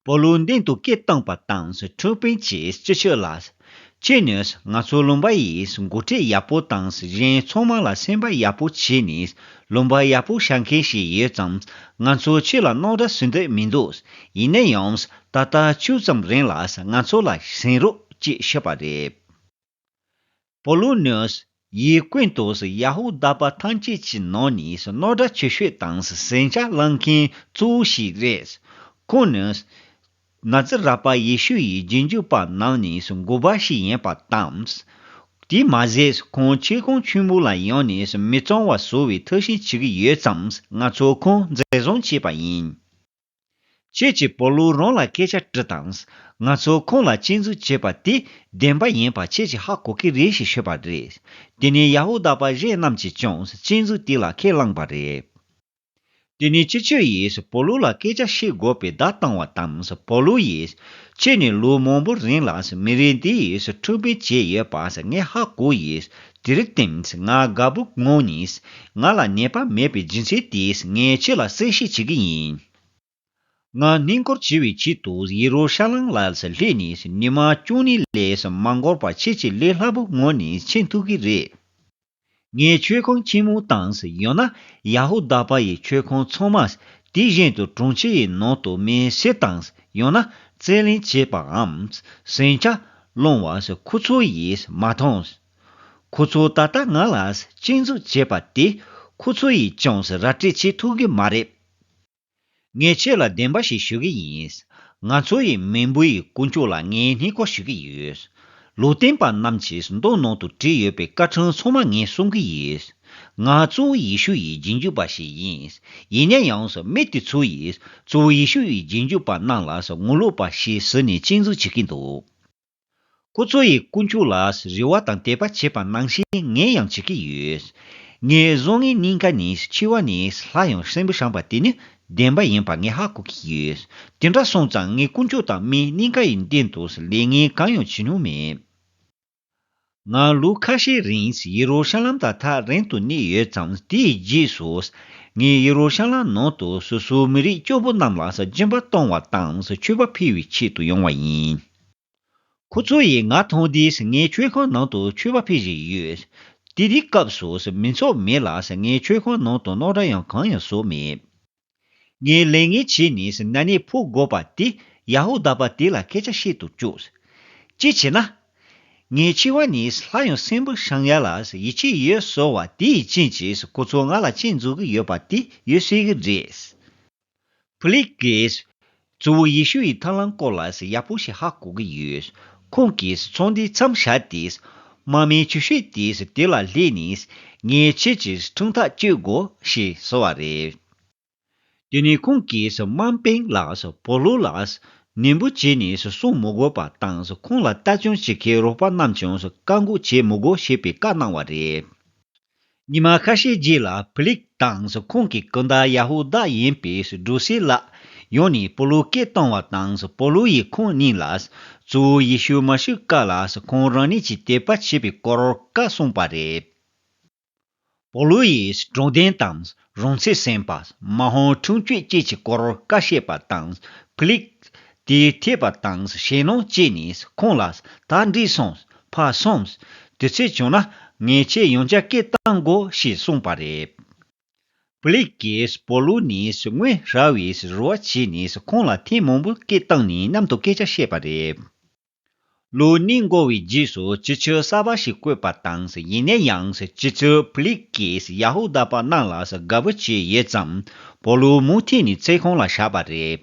སྤོ་ལོའི་མདུན་དུ་སྐད་བཏང་བ་དང་ཁྲོན་དཔོན་གྱིས་སྤྱི་ཆོས་ལ། ཁྱོད་ནི་ང་ཚོའི་ལུང་པ་ཡིས་མགོ་ཁྲིད་ཡག་པོ་དང་གཞན་ཚོགས་མང་ལ་སེམས་པ་ཡག་པོ་བྱས་ནས་ལུང་པ་ཡག་པོ་བྱ་མཁན་ཞིག་ཡོད་ཙང་ང་ཚོས་ཁྱོད་ལ་སྣང་འདྲ་ཟོས་འདོད་མི་འདུག་ཡིན་ན་ཡང་ད་ལྟ་ཅུང་ཙམ་རིང་ལ་ང་ཚོ་ལ་ཟིན་རོགས་ཅེས་ཞུས་པ་རེད། པོ་ལུ་ནོས་ཡི་ཀུན་ཏུ་ཡ་ཧུ་དཱ་པ་ཐམས་ཅད་ཀྱི་ནང་ནས་རྣོ་སྦྲ་ཆེ་ཤོས་དང་ཟན་ཆ་བླངས་མཁན་གཙོ་བོ་ཞིག་རེད། ཁོང་ནི། ན་ཛི་རཱ་པ་ཡེ་ཤུ་ཡི་རྗེས་འཇུག་པ་རྣམས་ནས་དགུ་པ་ཞིག་ཡིན་པ་དང། དེས་མ་ཟད་ཁོང་ཆེ་གོང་ཆེན་པོ་ལ་ཡང་ནས་མི་གཙང་བ་བཟོ་བའི་ཐབས་ཤེས་བྱེད་ཀྱི་ཡོད་ཙམ་ང་ཚོས་ཁོང་འཛིན་བཟུང་བྱས་པ་ཡིན། ཁྱེད་ཀྱིས་བོ་ལུའུ་རོང་ལ་སྐད་ཆ་དྲིས་དང། ང་ཚོ་ཁོང་ལ་གཅེས་འཛུགས་བྱེད་པ་དེ་བདེན་པ་ཡིན་པ་ཁྱེད་ཀྱིས་ཧ་གོ་གི་རེད་ཞེས་ཤོད་པ་རེད། དེ་ནི་ཡ་ཧུ་དཱ་པ་གཞན་རྣམས་ཀྱིས་ཀྱང་གཅེས་འཛུགས་དེ་ལ་ཁས་བླངས་པ་རེད། དེ་ནི་སྤྱི་ཁྱོད་ཡིས་བོ་ལུའུ་ལ་སྐད་ཆ་བཤད་དགོས་པའི་བརྡ་བཏང་བ་དང་བོ་ལུའུ་ཡིས། ཁྱེད་ནི་ལོ་མང་པོ་རིང་ལ་མི་རིགས་འདི་ཡི་ཁྲོད་འཕེན་བྱས་ཡོད་པ་ངས་ཧ་གོ་ཡིས་དེར་བརྟེན་ང་དགའ་པོ་ངོ་ནས་ང་ལ་ནད་པ་མེད་པའི་སྦྱིན་སྲེག་དེས་ངས་ཁྱེད་ལ་གསལ་བཤད་བྱེད་ཀྱི་ཡིན། ང་སྣེ་འཁོར་བྱེད་པའི་ཆེད་དུ་ཡེ་རུ་ཤ་ལམ་ལ་སླེབས་ནས་ཉི་མ་བཅུ་གཉིས་ལས་མ་འགོར་བར་ཁྱེད་ཀྱི་ལས་སླ་པོ་ངོ་ནས་མཁྱེན་ཐུབ་ཀྱི་རེད། ངའི་ཆོས་ཁང་ཆེན་མོ་དང་ཡང་ན་ཡ་ཧུ་དཱ་པ་ཡི་ཆོས་ཁང་ཚང་མ་དེ་བཞིན་དུ་དྲུང་ཆེ་ཡི་ནང་དུ་མེ་བསྲེགས་དང་ཡང་ན་རྩེད་ལེན་བྱེད་པའམ་ཟིང་ཆ་སློང་བ་སོགས་ཁོ་ཚོ་ཡིས་མ་མཐོང། ཁོ་ཚོ་ད་ལྟ་ང་ལ་གཅེས་འཛུགས་བྱེད་པ་དེ་ཁོ་ཚོ་ཡིས་ཅུང་ཟད་ར་སྤྲོད་བྱེད་ཐུབ་གི་མ་རེད། ངས་ཁྱེད་ལ་བདེན་པ་ཞིག་ཞུ་གི་ཡིན། ང་ཚོ་ཡི་མི་འབུ་ཡི་དཀོན་མཆོག་ལ་ངས་སྣེ་ཁོག་ཞུ་གི་ཡོད། ལུས་རྟེན་པ་རྣམས་ཀྱིས་མདོག་ནང་དུ་བྲིས་ཡོད་པའི་སྐར་གྲངས་ཚང་མ་ངས་སྲུང་གི་ཡོད། ང་གཙོ་བོ་ཡེ་ཤུ་ཡི་རྗེས་འཇུག་པ་ཞིག་ཡིན། ཡིན་ན་ཡང་མི་དེ་ཚོ་ཡིས་གཙོ་བོ་ཡེ་ཤུ་ཡི་རྗེས་འཇུག་པ་རྣམས་ལ་ངོ་ལོག་པ་ཞིག་ཟེར་ནས་གཅིག་མཚུངས་བྱེད་ཀྱི་འདུག་ཁོ་ཚོ་ཡིས་དཀོན་མཆོག་ལ་རེ་བ་དང་དད་པ་བྱེད་པ་ནང་བཞིན་ངས་ཡང་བྱེད་ཀྱི་ཡོད། ངའི་བཟོ་ལྔའི་སྙིང་ག་ནས་འཆི་བ་ནི་སླར་ཡང་སྲིན་བུ་བཤམས་པ་དེ་ནི་བདེན་པ་ཡིན་པ་ངས་ཧ་གོ་གི་ཡོད། དེ་འདྲ་སོང་ཙང་ངས་དཀོན་མཆོག་དང་མིའི་སྙིང་ག་ཡི་སྟེང་དུ་ལས་ངན་གང་ཡང་བྱེད་མྱོང་མེད། ང་ལོ་ཁ་ཤས་རིང་ཡེ་རུ་ཤ་ལམ་དང་ཐག་རིང་དུ་གནས་ཡོད་མཚམས་དེའི་རྗེས་སུ། ངས་ཡེ་རུ་ཤ་ལམ་ནང་དུ་སོ་སོའི་མི་རིགས་སྐྱོ་པོ་རྣམས་ལ་ཟ་སྦྱིན་པ་གཏོང་བ་དང་མཆོད་པ་འཕེལ་བའི་ཆེད་དུ་ཡོང་བ་ཡིན། ཁོ་ཚོ་ཡིས་ང་མཐོང་དུས་ངས་མཆོད་ཁང་ནང་དུ་མཆོད་པ་འཕེལ་བཞིན་ཡོད། དེ་དུས་སྐབས་སུ་མི་ཚོགས་མེད་ལ་ངས་མཆོད་ཁང་ནང་དུ་རྣོ་སྒྲ་ཡང་གང་ཡང་བཟོ་མེད། ངས་ལས་ངན་བྱས་ནས་ན་ནས་ཕོ་དགོ་པ་དེ་ཡ་ཧུ་དཱ་པ་དེ་ལ་སྐད་ཆ་བཤད་དུ་བཅུག། ཅི་བྱས་ན། ངའི་འཆི་བ་ནི་ལྷ་ཡང་སྲིན་པོ་ཞང་ཡ་ལ་ཡིད་ཆེས་ཡོད་གསུང་བ་དེའི་རྐྱེན་གྱིས་ཁོ་ཚོ་ང་ལ་གཅེས་འཛུགས་ཀྱི་ཡོད་པ་དེ་ཡོད་སྲིད་ཀྱི་རེད། བྷི་ལིག་གིས་གཙོ་བོ་ཡེ་ཤུ་ཡི་ཐང་ལམ་སྐོར་ལ་ཡག་པོ་ཞིག་ཧ་གོ་གི་ཡོད། ཁོང་གིས་ཚོགས་འདུའི་མཚམས་བཞག་སྟེ། དམག་མིའི་ཆུ་ཤུལ་དེ་དེ་ལ་སླེབས་ནས། ངས་ཁྱེད་ཀྱི་འཁྲུངས་ཐག་གཅོད་དགོས་ཞེས་གསོལ་བ་རེད། དེ་ནས་ཁོང་གིས་དམངས་དཔོན་ལ་པོ་ལོ་ལ་ནན་པོ་བྱས་ནས་གསུང་མི་དགོས་པ་དང་ཁོང་ལ་ལྟ་སྐྱོང་བྱེད་མཁན་རོགས་པ་རྣམས་ཀྱང་བཀག་འགོག་བྱེད་མི་དགོས་ཞེས་པའི་བཀའ་གནང་བ་རེད། ཉི་མ་ཁ་ཤས་རྗེས་ལ་ཕི་ལིག་དང་ཁོང་གི་སྐུ་ཟླ་ཡ་ཧུ་དཱ་ཡིན་པའི་སྒྲོ་སི་ལགས་ཡོང་ནས་པོ་ལུ་སྐད་བཏང་བ་དང་པོ་ལུ་ཡིས་ཁོང་གཉིས་ལ་གཙོ་བོ་ཡེ་ཤུ་མ་ཤི་ཀ་ལ་ཁོང་རང་ཉིད་ཀྱིས་དད་པ་བྱེད་པའི་སྐོར་བཀའ་གསུངས་པ་རེད། པོ་ལུ་ཡིས་གྲོང་སྡེ་དང་རོང་ཚེ་སེམས་པདྨ་ཧོ་ཁྲུང་ཆོས་སྐྱིད་ཀྱི་སྐོར་བཀའ་བཤད་པ་དང། ཀླིག། དེའི་ཐེག་པ་དང་ཞེན་ནོ་བཅས་ནས་ཁོང་ལ། ད་འགྲིག་སོང། ཕར་སོང། དུས་ཚོད་བྱུང་ན། ངས་ཁྱེད་ཡོང་རྒྱ་སྐད་བཏང་གོ་ཞེས་གསུངས་པ་རེད། ཀླིག་གིས་སྤོ་ལོ་ནས་དངོས་ར་བའི་རུ་བ་བྱས་ནས་ཁོང་ལ་ཐེངས་མང་པོ་སྐད་བཏང་ནས་མཉམ་དུ་སྐད་ཆ་བཤད་པ་རེད། ལོ་གཉིས་འགོར་བའི་རྗེས་སུ་སྤྱི་ཆོས་གསར་པ་ཞིག་བཀོད་པ་དང་ཡིན་ནའི་ཡང་སྤྱི་ཚོས་ཕུ་ལིག་གིས་ཡ་ཧུ་དཱ་པ་རྣམས་ལ་དགའ་བོ་བྱས་ཡོད་ཙང་པོ་ལུ་མུ་ཐི་ནི་བརྩེ་ཁོང་ལ་བཞག་པ་རེད།